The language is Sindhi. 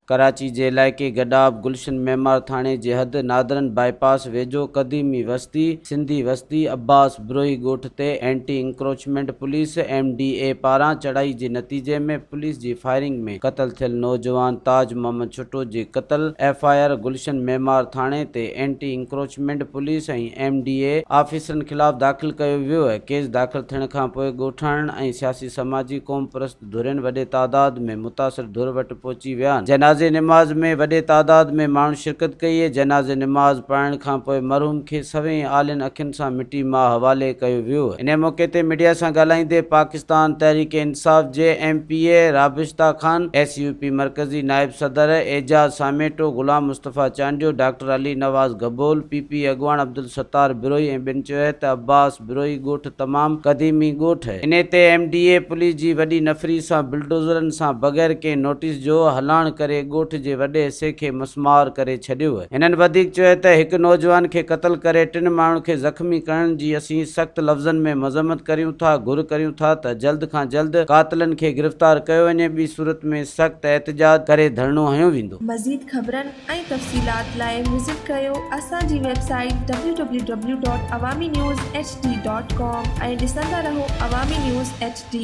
ڪراچي جي علائقي گڏاپ گلشن معمار ٿاڻي جي حد نادرن باء پاس ويجهو قديمي وستي سنڌي وستي عباس ابروهي ڳوٺ تي anti encroachment police, M D A, پاران چڙهائي جي نتيجي ۾ پوليس جي فائرنگ ۾ قتل ٿيل نوجوان تاج محمد ڇٽو جي قتل F I R Gulshan Maymar ٿاڻي تي anti encroachment police ۽ M D A آفيسرن خلاف داخل ڪيو ويو، ڪيس داخل ٿيڻ کانپوء ڳوٺاڻن ۽ سياسي سماجي قومپرست. ڌرين وڏي تعداد ۾ متاثر ڌر وٽ پهچي ويا آهن جنازي نماز ۾ وڏي تعداد ۾ ماڻهن شرڪت ڪئي جنازي نماز پڙهائڻ کان پوء مرحوم کي سوين آلين اکين سان مٽي ماء حوالي ڪيو ويو انهي موقعي تي ميڊيا سان ڳالهائيندي پاڪستان تحريڪ انصاف جي M P A Rabishta Khan S U P مرڪزي نائب صدر Ejaz Samito Ghulam Mustafa Chandio doctor Ali Nawaz Gabol P P اڳواڻ عبدالستار بروهي ۽ ٻين چيوهي ته عباس بروهي ڳوٺ تمام قديمي ڳوٺ هي. انهي تي ايم ڊي اي پوليس جي وڏي نفري سان بلڊوزرن سان بغير ڪنهن نوٽيس جو هلڻ ڪري ڳوٺ جي وڏي حصي کي مسمار ڪري ڇڏيو. هنن وڌيڪ چيو ته هڪ نوجوان کي قتل ڪري ٽن ماڻهن کي زخمي ڪرڻ جي اسين سخت لفظن ۾ مذمت ڪريون ٿا گهر ڪريون ٿا ته جلد کان جلد قاتلن کي گرفتار ڪيو وڃي ٻي صورت ۾ سخت احتجاج ڪري ڌرڻو هنيو ويندو. مزيد خبرن ۽ تفصيلات لاء وزٽ ڪيو اسان جي ويب سائيٽ www.awaminewshd.com ۽ ڏسندا رهو عوامي نيوز HD